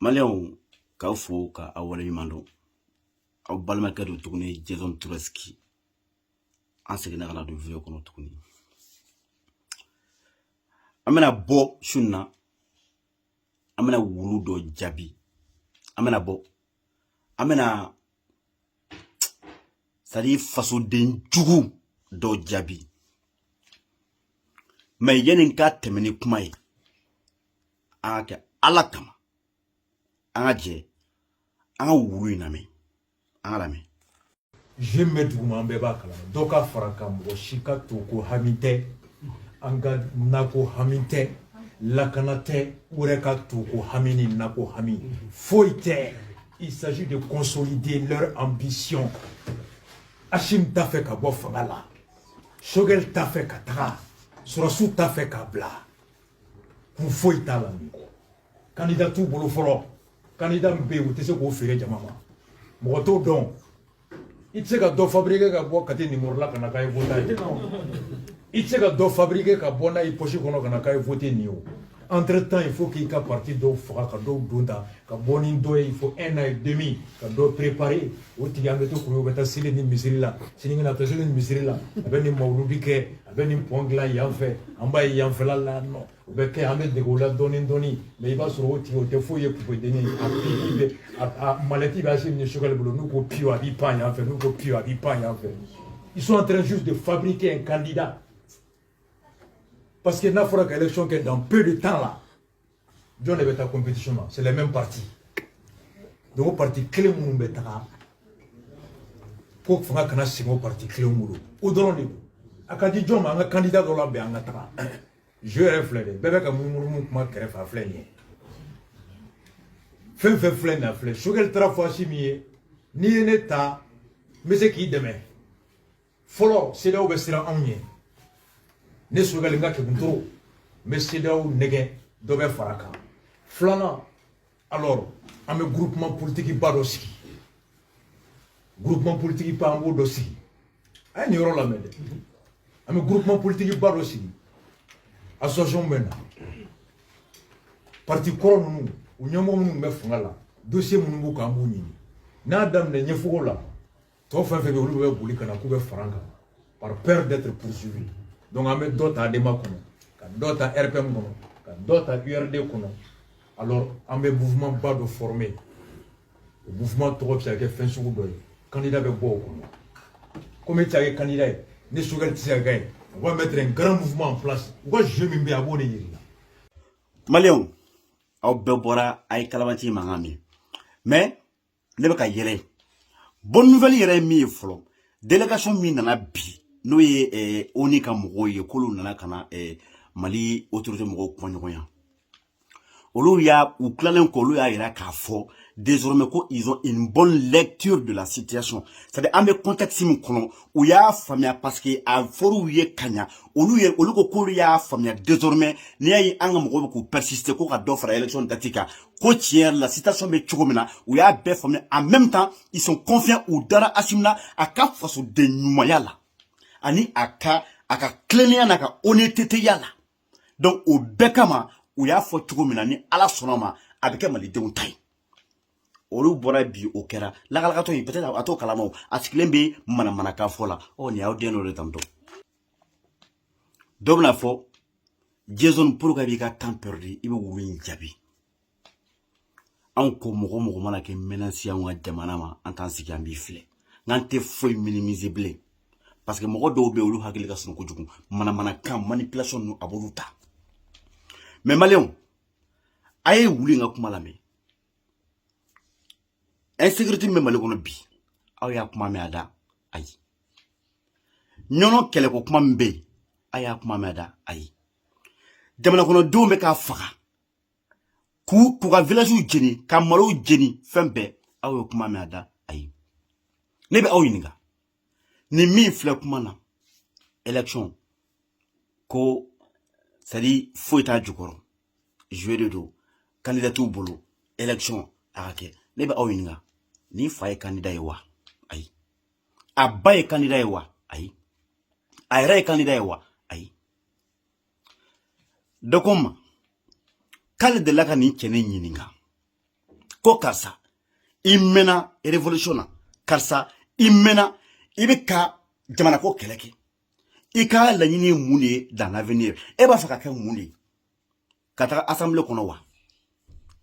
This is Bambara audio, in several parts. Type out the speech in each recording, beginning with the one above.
maliyɛnw k'aw fo ka aw waleɲuman dɔn aw balimakɛ don tuguni jason turasiki an seginna ka na don video kɔnɔ tuguni an bɛna bɔ su na an bɛna wulu dɔ jaabi an bɛna bɔ an bɛna c'est-à-dire fasoden jugu dɔ jaabi mais yanni n ka tɛmɛ ni kuma ye an k'a kɛ ala kama an ka jɛ an ka wulu in lamɛn jeu min bɛ duguma an bɛɛ b'a kalama dɔ ka fara a kan mɔgɔ si ka to ko hami tɛ an ka nako hami tɛ lakana tɛ u yɛrɛ ka to ko hami ni nako hami foyi tɛ il s'agit de consolider leur ambition Assimi t'a fɛ ka bɔ fanga la Choguel t'a fɛ ka taga sɔrɔdasiw t'a fɛ k'a bila kun foyi t'a la nin kɔ kandida t'u bolo fɔlɔ kandida min bɛ yen u tɛ se k'o feere jama ma mɔgɔ t'o dɔn i tɛ se ka dɔ fabriquer ka bɔ Kati nimoro la ka na k'a ye voter a ye i tɛ se ka dɔ fabriquer ka bɔ n'a ye poche kɔnɔ ka na k'a ye voter nin ye o entre temps il faut k'i ka parti dɔw faga ka dɔw don ta ka bɔ ni dɔ ye il faut un an et demi ka dɔ préparer o tigi an bɛ to k'o bɛ taa seli nin misiri la sini bɛna taa seli nin misiri la a bɛ nin mawuludi kɛ a bɛ nin pɔn dilan yan fɛ an b'a ye yanfɛla la n'o bɛ kɛ an bɛ dege o la dɔɔni dɔɔni mais i b'a sɔrɔ o tigi o tɛ foyi ye poupée denni a pipi bɛ a manette bɛ Assimi ni Choguel bolo n'u ko piyo a b'i pan yan fɛ n'u ko piyo a b'i pan yan fɛ ils sont en train juste de fabriquer un candidat parce que n'a fɔra ka élection kɛ dans peu de temps là jɔn de bɛ taa competition na c'est les mêmes partis donc o parti kelen minnu bɛ taga ko fanga kana segin o parti kelen bolo o dɔrɔn de don a ka di jɔn ma an ka candidat dɔ labɛn an ka taga jeu yɛrɛ filɛ de bɛɛ bɛ ka munumunu kuma kɛrɛfɛ a filɛ nin ye fɛn fɛn filɛ nin ye a filɛ Choguel taara a fɔ Assimi ye n'i ye ne ta n bɛ se k'i dɛmɛ fɔlɔ CEDEAO bɛ siran anw ɲɛ ne Choguel n ka keguntoro n bɛ CEDEAO nɛgɛn dɔ bɛ fara a kan filanan alors an bɛ groupement politique ba dɔ sigi groupement politique ba an b'o dɔ sigi a ye nin yɔrɔ lamɛn dɛ an bɛ groupement politique ba dɔ sigi association bɛ na parti kɔrɔ ninnu u ɲɛmɔgɔ minnu bɛ fanga la dossier minnu b'u kan an b'u ɲini n'a daminɛ ɲɛfogo la tɔ fɛn fɛn bɛ olu bɛ boli ka na k'u bɛ fara an kan par peur d'être poursuivi donc an bɛ dɔ ta ADEMA kɔnɔ ka dɔ ta RPM kɔnɔ ka dɔ ta URD kɔnɔ alors an bɛ mouvement ba dɔ former o mouvement tɔgɔ bɛ se ka kɛ fɛn sugu dɔ ye candidat bɛ bɔ o kɔnɔ comme e tɛ se ka kɛ candidat ye ni Choguel tɛ se ka kɛ ye u ka mettre un grand mouvement en place u ka jeu min bɛ yen a b'o de yiri la. maliyɛnw aw bɛɛ bɔra a ye kalabanci mankan mɛn mais. ne bɛ ka yɛlɛ bonne nouvelle yɛrɛ ye min ye fɔlɔ délégation min nana bi n'o ye eh, ONU ka mɔgɔw ye k'olu nana ka na eh, Mali autorité mɔgɔw kumaɲɔgɔnya olu y'a u tilalen kɔ olu y'a yira k'a fɔ désormais ko ils ont une bonne lecture de la situation c'est à dire an bɛ contexte min kɔnɔ u y'a faamuya parce que a fɔr'u ye ka ɲa olu ye olu ko k'olu y'a faamuya désormais n'i y'a ye an ka mɔgɔw bɛ k'u persister ko ka dɔ fara élection date kan ko tiɲɛ yɛrɛ la situation bɛ cogo min na u y'a bɛɛ faamuya en même temps ils sont confiants u dara Assimi na a ka fasoden ɲumanya la ani a ka a ka tilennenya n'a ka honnêteté ya la donc o bɛɛ kama u y'a fɔ cogo min na ni Ala sɔnna ma a bɛ kɛ malidenw ta ye olu bɔra bi o kɛra lagalagatɔ in peut être a t'o kalama a sigilen bɛ manamanakan fɔ la ɔ nin y'aw den dɔ de tantôt dɔ bɛn'a fɔ jason pourquoi i b'i ka temps perdu i bɛ wulu in jaabi anw ko mɔgɔ mɔgɔ mana kɛ menace ye anw ka jamana ma an t'an sigi an b'i filɛ n'an tɛ foyi minimiser bilen parce que mɔgɔ dɔw bɛ yen olu hakili ka surun kojugu manamanakan manipulation ninnu a b'olu ta mais maliyɛnw a ye wulu in ka kuma lamɛn insécurité min bɛ mali kɔnɔ bi aw y'a kuma mɛn a da ayi ɲɔnɔ kɛlɛko kuma min bɛ yen a y'a kuma mɛn a da ayi jamanakɔnɔdenw bɛ ka faga k'u k'u ka villagew jeni ka malow jeni fɛn bɛɛ aw ye kuma mɛn a da ayi ne bɛ aw ɲininka nin min filɛ kuma na élection ko c'est à dire foyi t'a jukɔrɔ jouer de don candidat t'u bolo élection a ka kɛ ne bɛ aw ɲininka nin fa ye candidat ye wa ayi a ba ye candidat ye wa ayi a yɛrɛ ye candidat ye wa ayi dɔ ko n ma k'ale delila ka nin cɛnin ɲininka ko karisa i mɛnna révolution na karisa i mɛnna i bɛ ka jamana ko kɛlɛ kɛ i ka laɲini ye mun de ye dans l'avenir e b'a fɛ ka kɛ mun de ye ka taga assemblée kɔnɔ wa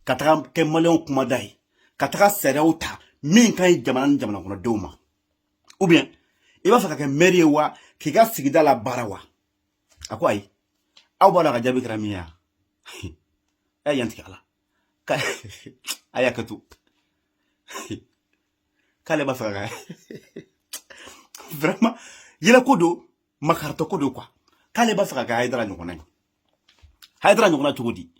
ka taga kɛ maliyɛnw kumada ye ka taga sariyaw ta min ka ɲi jamana ni jamana kɔnɔdenw ma ou bien i b'a fɛ ka kɛ maire ye wa k'i ka sigida la baara wa a ko ayi aw b'a lɔn a ka jaabi kɛra min ye a ye yan tigɛ a la a y'a kɛ to k'ale b'a fɛ ka vraiment yɛlɛko don makaritɔko don quoi k'ale b'a fɛ ka kɛ hayidara ɲɔgɔnna ye hayidara ɲɔgɔnna cogo di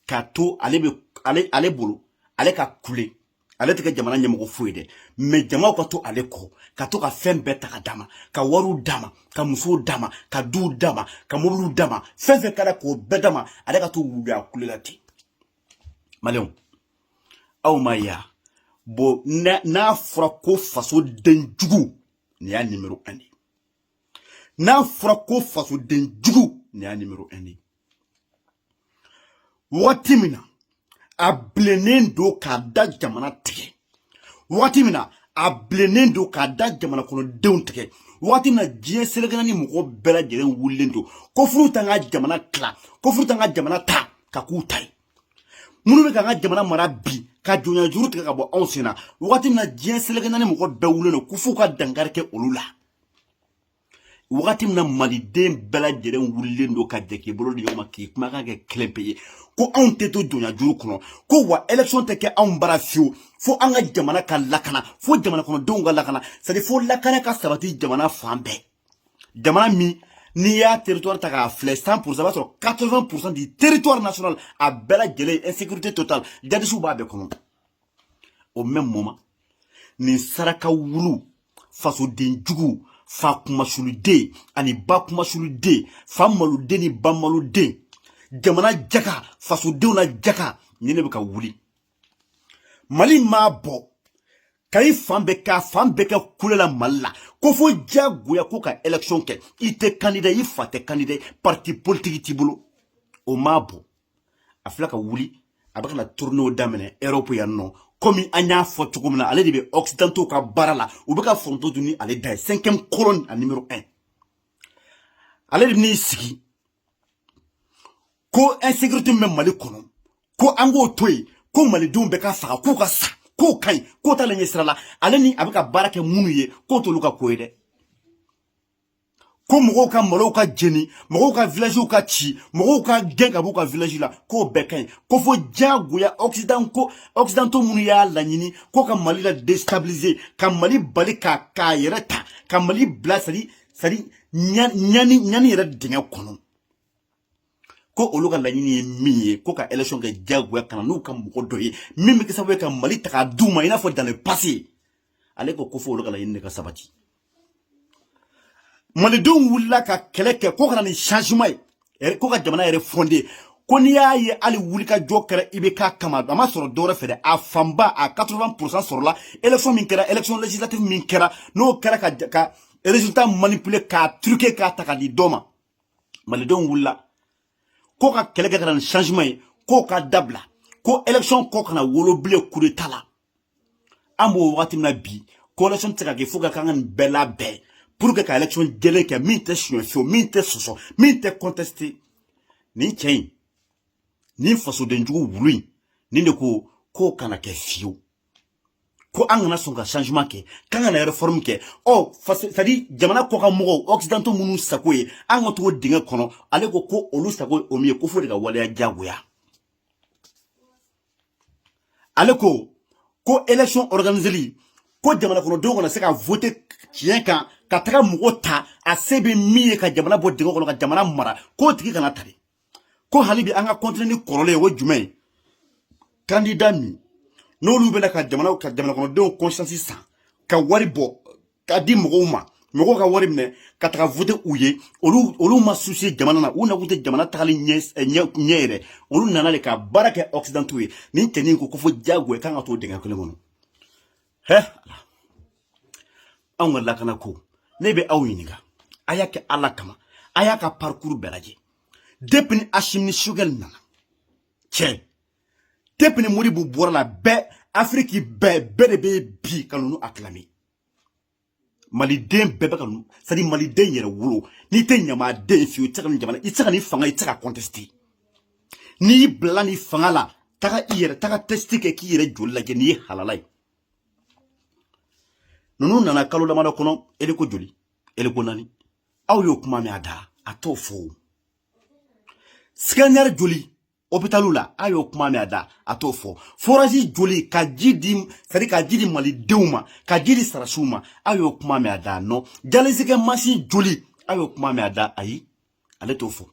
k'a to ale bɛ ale ale bolo ale ka kule ale tɛ kɛ jamana ɲɛmɔgɔ foyi dɛ mais jamaw ka to ale kɔ ka to ka fɛn bɛɛ ta ka d'a ma ka wariw d'a ma ka musow d'a ma ka duw d'a ma ka mobiliw d'a ma fɛn fɛn kɛra k'o bɛɛ d'a ma ale ka to wuluya kule la ten maliyɛnw aw m'a ye bon n'a fɔra ko fasoden jugu nin y'a nimero un de n'a fɔra ko fasoden jugu nin y'a nimero un de wagati min na a bilennen don k'a da jamana tigɛ wagati min na a bilennen don k'a da jamana kɔnɔdenw tigɛ wagati min na diɲɛ seleke naani mɔgɔ bɛɛ lajɛlen wulilen don ko f'olu k'an ka jamana tila ko f'olu k'an ka jamana ta ka k'u ta ye minnu bɛ ka an ka jamana mara bi ka jɔnya juru tigɛ ka bɔ anw sen na wagati min na diɲɛ seleke naani mɔgɔ bɛɛ wulilen don ko f'u ka dankari kɛ olu la wagati min na maliden bɛɛ lajɛlen wulilen don ka jɛ k'i bolo di ɲɔgɔn ma k'i kumakan kɛ kelen pe ye ko anw tɛ to jɔnya juru kɔnɔ ko wa élection tɛ kɛ anw bara fiyewu fo an ka jamana ka lakana fo jamana kɔnɔdenw ka lakana c'est à dire fo lakana ka sabati jamana fan bɛɛ jamana min n'i y'a territoire ta k'a filɛ 100 pourcent i b'a sɔrɔ 80 pourcent du territoire national a bɛɛ lajɛlen insécurité totale jadisiw b'a bɛɛ kɔnɔ au même moment nin saraka wulu fasoden jugu fa kunmasuliden ani ba kunmasuliden fa maloden ni ba maloden jamana jaka fasodenw na jaka nin de bɛ ka wuli mali m'a bɔ ka i fan bɛɛ k'a fan bɛɛ kɛ kule la mali la ko fo diyagoya ko ka élection kɛ i tɛ kandida i fa tɛ kandida parti politiki t'i bolo o m'a bɔ a filɛ ka wuli a bɛ ka na tournéew daminɛ europe yan nɔ komi an y'a fɔ cogo min na ale de bɛ occidentaux ka baara la u bɛ ka foronto dun ni ale da ye cinquième colonne a numéro 1 ale de bɛn'i sigi ko insécurité min bɛ mali kɔnɔ ko an k'o to yen ko malidenw bɛ ka faga k'u ka sa k'o ka ɲi k'o t'ale ɲɛ sira la ale ni a bɛ ka baara kɛ minnu ye k'o t'olu ka ko ye dɛ ko mɔgɔw ka malow ka jeni mɔgɔw ka villagew ka ci mɔgɔw ka gɛn ka b'u ka village la k'o bɛɛ ka ɲi ko fo diyagoya occident ko occidentaux minnu y'a laɲini ko ka mali la déstabiliser ka mali bali ka k'a yɛrɛ ta ka mali bila c'est à dire c'est à dire ɲani ɲani yɛrɛ dingɛ kɔnɔ ko olu ka laɲini ye min ye ko ka élection kɛ diyagoya ka na n'u ka mɔgɔ dɔ ye min bɛ kɛ sababu ye ka mali ta k'a d'u ma i n'a fɔ dans le passé ale ko ko fo olu ka laɲini de ka sabati malidenw wulila ka kɛlɛ kɛ ko ka na ni changement ye ko ka jamana yɛrɛ fonder ko n'i y'a ye hali wulikajɔ kɛra IBK kama a ma sɔrɔ dɔwɛrɛ fɛ dɛ a fanba a 80 pourcent sɔrɔla élection min kɛra élection législative min kɛra n'o kɛra ka ka résultat manipuler k'a truquer k'a ta ka di dɔ ma malidenw wulila ko ka kɛlɛ kɛ ka na ni changement ye k'o ka dabila ko élection ko kana wolo bilen coup d'état la an b'o wagati min na bi ko élection tɛ se ka kɛ fo ka kan ka nin bɛɛ labɛn pour que ka élection jɛlen kɛ min tɛ suɲɛ fiyewu min tɛ sɔsɔ min tɛ contester nin cɛ in nin fasodenjugu wulu in nin de ko k'o kana kɛ fiyewu ko an kana sɔn ka changement kɛ k'an kana réforme kɛ ɔ c'est à dire jamana kɔkan mɔgɔw occidentaux minnu sago ye an ka to o dingɛ kɔnɔ ale ko ko olu sago ye o min ye ko f'o de ka waleya diyagoya ale ko ko élection organiseli ko jamana kɔnɔdenw kana se ka voter tiɲɛ kan ka taga mɔgɔ ta a se bɛ min ye ka jamana bɔ dingɛ kɔnɔ ka jamana mara k'o tigi kana tari ko hali bi an ka continuer ni kɔrɔlen ye o jumɛn ye candidat min n'olu bɛna ka jamana ka jamana kɔnɔdenw conscience san ka wari bɔ k'a di mɔgɔw ma mɔgɔw ka wari minɛ ka taga voter u ye olu olu ma soucier jamana na u nakun tɛ jamana tagali ɲɛ eh, ɲɛ ɲɛ yɛrɛ olu nana de ka baara kɛ occidentaux ye nin cɛnin ko ko fo diyagoya k'an ka to dingɛ kelen kɔnɔ hɛ anw ka lakana ko ne bɛ aw ɲininka a y'a kɛ ala kama a y'a ka parcours bɛɛ lajɛ depuis ni Assimi ni Choguel nana cɛ depuis ni Modibo bɔra la bɛɛ afiriki bɛɛ bɛɛ de bɛ bi ka ninnu acclamer maliden bɛɛ bɛ ka ninnu c'est à dire maliden yɛrɛwolo n'i tɛ ɲamaden fiyewu i tɛ se ka nin jamana i tɛ se ka nin fanga i tɛ se ka contester n'i bila nin fanga la taga i yɛrɛ taga test kɛ k'i yɛrɛ joli lajɛ n'i ye halala ye ninnu nana kalo damadɔ kɔnɔ hélico joli hélico naani aw y'o kuma mɛn a da a t'o fɔ o scanner joli hôpitaliw la a y'o kuma mɛn a da a t'o fɔ forage joli ka ji di c'est à dire ka ji di malidenw ma ka ji di sɔrɔdasiw ma a y'o kuma mɛn a da ah non dialyse kɛ masin joli a y'o kuma mɛn a da ayi ale t'o fɔ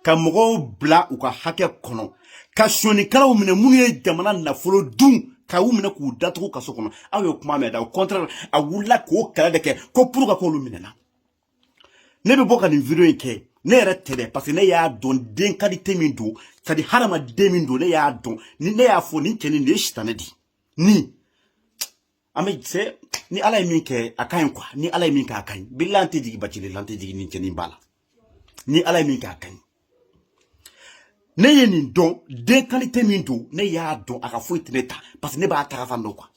ka mɔgɔw bila u ka hakɛ kɔnɔ ka sonyakɛlaw minɛ minnu ye jamana nafolo dun ka u minɛ k'u datugu kaso kɔnɔ aw y'o kuma mɛn a da au contraire a wulila k'o kɛlɛ de kɛ ko pourquoi k'olu minɛna ne bɛ bɔ ka nin vidéo in kɛ ne yɛrɛ tɛ dɛ parce que ne y'a dɔn den qualité min don c'est à dire hadamaden min don ne y'a dɔn ni ne y'a fɔ nin cɛnin de ye sitanɛ di ni an bɛ se ni ala ye min kɛ a ka ɲi quoi ni ala ye min kɛ a ka ɲi bilahi an tɛ jigin bacile la an tɛ jigin nin cɛnin ba la ni ala ye min kɛ a ka ɲi ne ye nin dɔn den qualité min don ne y'a dɔn a ka foyi tɛ ne ta parce que ne b'a tagafan dɔn quoi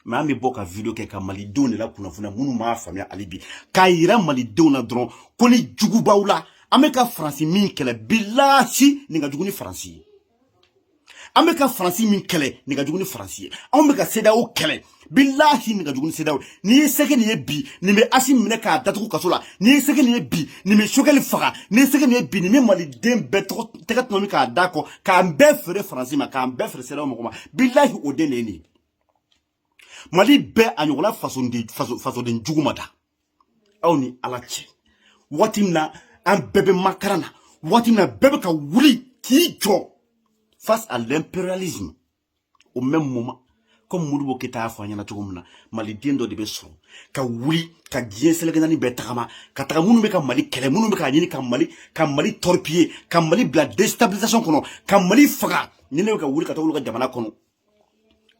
mais an bɛ bɔ ka video kɛ ka malidenw de lakunnafoniya minnu m'a faamuya hali bi k'a yira malidenw na dɔrɔn ko ni jugu b'aw la an bɛ ka faransi min kɛlɛ bilahi nin ka jugu ni faransi ye an bɛ ka faransi min kɛlɛ nin ka jugu ni faransi ye anw bɛ ka CEDEAO kɛlɛ bilahi nin ka jugu ni CEDEAO n'i ye se kɛ nin ye bi nin bɛ asi minɛ k'a datugu kaso la n'i ye se kɛ nin ye bi nin bɛ sogɛli faga n'i ye se kɛ nin ye bi nin bɛ maliden bɛɛ tɔgɔ tɛgɛ tɔnɔmi k'a da kɔ k'an bɛɛ feere faransi ma k'an bɛɛ feere CEDEAO mɔgɔ ma bilahi o den de ye nin ye mali bɛɛ a ɲɔgɔnna fasoden fasoden jugu ma da aw ni ala cɛ waati min na an bɛɛ bɛ makaran na waati min na bɛɛ bɛ ka wuli k'i jɔ face à l'impérialisme au même moment comme modibo keyita y'a fɔ an ɲɛna cogo min na maliden dɔ de bɛ sɔrɔ ka wuli ka diɲɛ seleke naani bɛɛ tagama ka taga minnu bɛ ka mali kɛlɛ minnu bɛ k'a ɲini ka mali ka mali torpiller ka mali bila déstabilisation kɔnɔ ka mali faga nin de bɛ ka wuli ka taa olu ka jamana kɔnɔ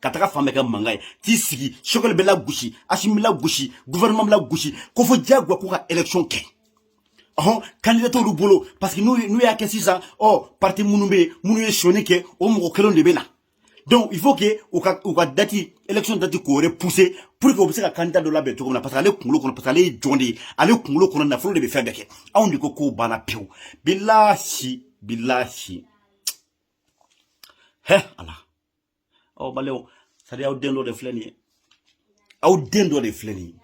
ka taga fan bɛɛ kɛ mankan ye t'i sigi sogɛli bɛ lagosi asimi bɛ lagosi gouvernement bɛ lagosi ko fo diyagoya k'u ka élection kɛ ɔhɔn candidat t'olu bolo parce que n'u n'u y'a kɛ sisan ɔ parti minnu bɛ yen minnu ye sonyani kɛ o mɔgɔ kelenw de bɛ na donc il faut que u ka u ka date élection date k'o repousser pour que u bɛ se ka candidat dɔ labɛn cogo min na parce que ale kunkolo kɔnɔ parce que ale ye jɔn de ye ale kunkolo kɔnɔ nafolo de bɛ fɛn bɛɛ kɛ anw de ko k'o banna pewu bilahi bilahi hɛ ala. ɔ badenw c'est-à-dire aw den dɔ de filɛ nin ye aw den dɔ de filɛ nin ye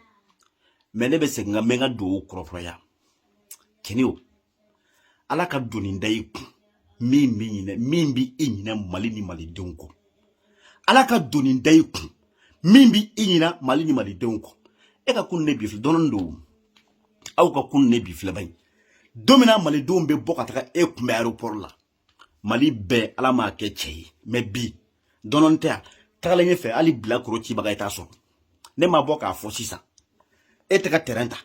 mais ne bɛ segin ka mɛ n ka duwawu kɔrɔ kuraya kɛnɛ o ala ka doni da i kun min bɛ ɲinɛ min bɛ i ɲinɛ mali ni malidenw kɔ ala ka doni da i kun min bɛ i ɲinɛ mali ni malidenw kɔ e ka kunun ni bi filɛ dɔɔnin don aw ka kunun ni bi filɛ bani don min na malidenw bɛ bɔ ka taga e kunbɛn aéroport la mali bɛɛ ala m'a kɛ cɛ ye mais bi dɔɔnin tɛ yan tagalen ɲɛfɛ hali bilakoro cibaga i t'a sɔrɔ ne ma bɔ k'a fɔ sisan e tɛ ka tɛrɛn ta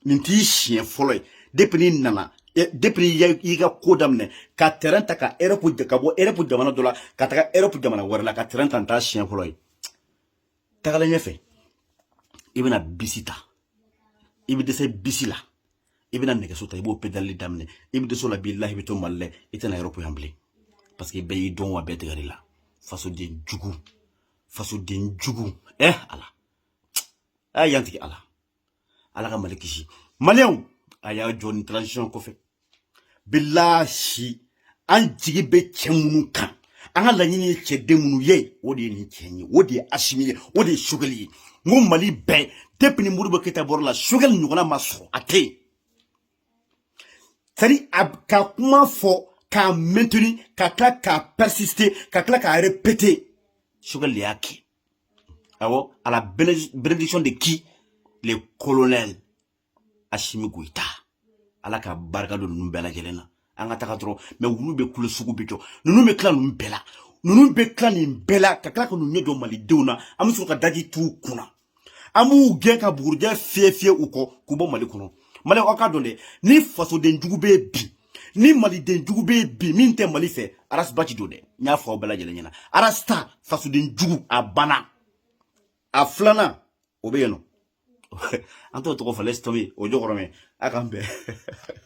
nin t'i siɲɛ fɔlɔ ye depuis n'i nana depuis i ka ko daminɛ ka tɛrɛn ta ka erɔpu ka bɔ erɔpu jamana dɔ la ka taga erɔpu jamana wɛrɛ la ka tɛrɛn ta nin t'a siɲɛ fɔlɔ ye tagalen ɲɛfɛ i bɛna bisi ta i bɛ dɛsɛ bisi la i bɛna nɛgɛso ta i b'o pedali daminɛ i bɛ dɛsɛ o la bilahi i bɛ to mali la i tɛ na erɔpu yan bilen parce que bɛɛ y'i dɔn wa bɛɛ tigɛr'i la fasoden jugu fasoden jugu ɛ eh, ala a y'an tigi ala ala ka mali kisi maliyɛnw a y'a jɔ nin transition kɔfɛ bilahi an jigi bɛ cɛ minnu kan an ka laɲini ye cɛden minnu ye o de ye nin cɛ ye o de ye asimi ye o de ye sogɛli ye n ko mali bɛɛ depuis ni modibo keyita bɔra la sogɛli ɲɔgɔnna ma sɔrɔ a tɛ yen c'est à dire a ka kuma fɔ k'a maintenir ka tila k'a persister ka tila k'a répéter sogɛli de y'a kɛ awɔ à la bénédiction de qui le colonel asimi goyita ala ka barika don ninnu bɛɛ lajɛlen na an ka taga dɔrɔn mais wulu bɛ kulo sugu bɛ jɔ ninnu bɛ tila ninnu bɛɛ la ninnu bɛ tila nin bɛɛ la ka tila ka ninnu ɲɛ jɔ malidenw na an bɛ sɔrɔ ka daji t'u kun na an b'u gɛn ka bugurijɛ fiyɛ fiyɛ u kɔ k'u bɔ mali kɔnɔ mali aw k'a dɔn dɛ ni fasoden jugu bɛ bi ni maliden jugu bɛ bi min tɛ mali fɛ arasiba ci don dɛ n y'a fɔ aw bɛɛ lajɛlen ɲɛna arasita fasoden jugu a banna a filanan o bɛ yen nɔ an t'o tɔgɔ fɔ laisse tomber o jɔkɔrɔmɛ a k'an bɛn